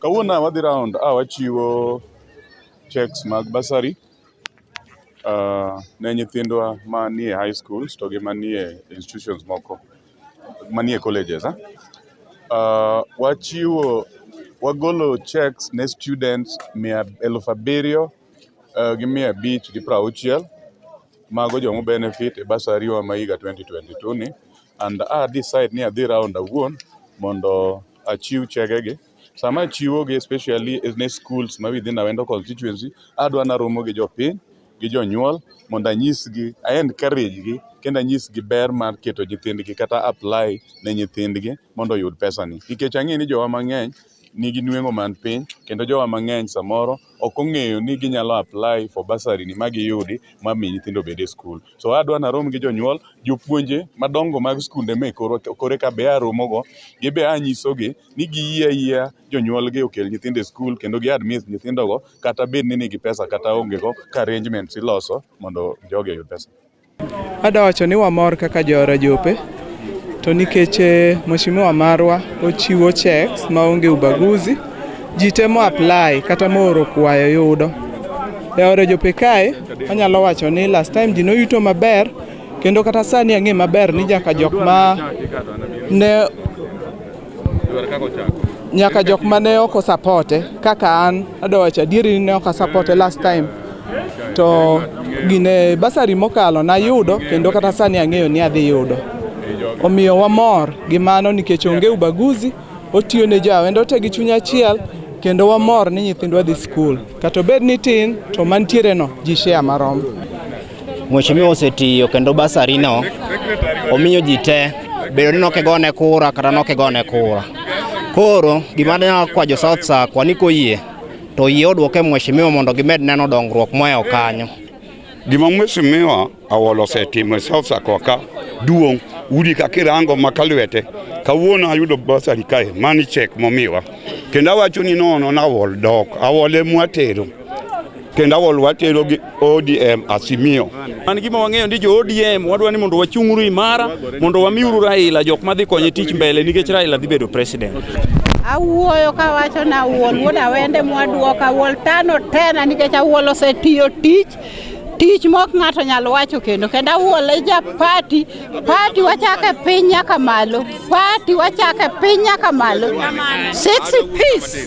Kawuono wadhi round a wachiwo checks mag basari uh, ne nyithindwa manie high schools to gi manie institutions moko manie colleges eh? uh, wachiwo wagolo checks ne students mia elfu abiriyo uh, gi mia abich gi prauchiel mago jomo benefit e basari wa ma higa 2022 ni and a decide ni adhi round awuon mondo achiw chegegi. Sama achiwogi especially ne schools ma within Awendo constituency, adwa naromo gi jopiny gi jonyuol mondo anyisgi, a encourage gi kendo anyisgi ber mar keto nyithindgi kata apply ne nyithindgi mondo oyud pesani. Nikech ang'e ni jowa mang'eny. nigi nweng'o man piny kendo jowa mang'eny samoro ok ong'eyo ni ginyalo apply for bursary ni ma giyudi ma mi nyithindo obed e skul. So adwa narom gi jonyuol, jopuonje madongo mag skunde me kor kore ka be aromogo, gibe anyisogi ni giyie ayiya jonyuolgi okel nyithindo e skul kendo gi admit nyithindogo kata bed ni nigi pesa kata ongego ka arrangements iloso mondo jogi oyud pesa. Ada wacho ni wamor kaka joora jope to nikech eh, mheshimiwa marwa ochiwo checks maonge ubaguzi ji temo apply kata mooro kwayo yudo e ore jope kae anyalo wacho ni last time ji noyuto maber kendo kata sani ang'e maber ni jaka jok ma ne nyaka jok ma ne ok osapote kaka an adowacho adieri ni ne ok asapote last time to gine basari mokalo nayudo kendo kata sani ang'eyo ni adhi yudo omiyo wamor gi mano nikech onge ubaguzi otiyo ne jawendo te gi chuny achiel kendo wamor ni nyithindwa dhi skul kata obed ni tin to mantiereno ji shea marom Mheshimiwa osetiyo kendo basarino omiyo ji te bedo ni nokigone kura kata nokigone kura. Koro gima ne kwa jo South Sa kwa ni koyie to yie odwoke mheshimiwa mondo gimed neno dongruok moewo kanyo. Gima mheshimiwa Awolo osetimo e South Sa kwa ka duong' udi ka kirango ma ka lwete kawuono ayudo basari kae mani chek momiwa kendo awacho ni nono na awol dok awole mwatero kendo awol watero gi ODM Asimio. An gima wang'eyo ni jo ODM wadwa ni mondo wachung'uru imara mondo wamiuru Raila jok madhi konye tich mbele nikech Raila dhi bedo president. Awuoyo kawacho na wuol wuod awende mwaduoka awuol tano tena nikech awuol osetiyo tich tich mok ng'ato nyal wacho kendo kendo awuole ja pati pati wachake piny nyaka malo pati wachake piny nyaka malo six piece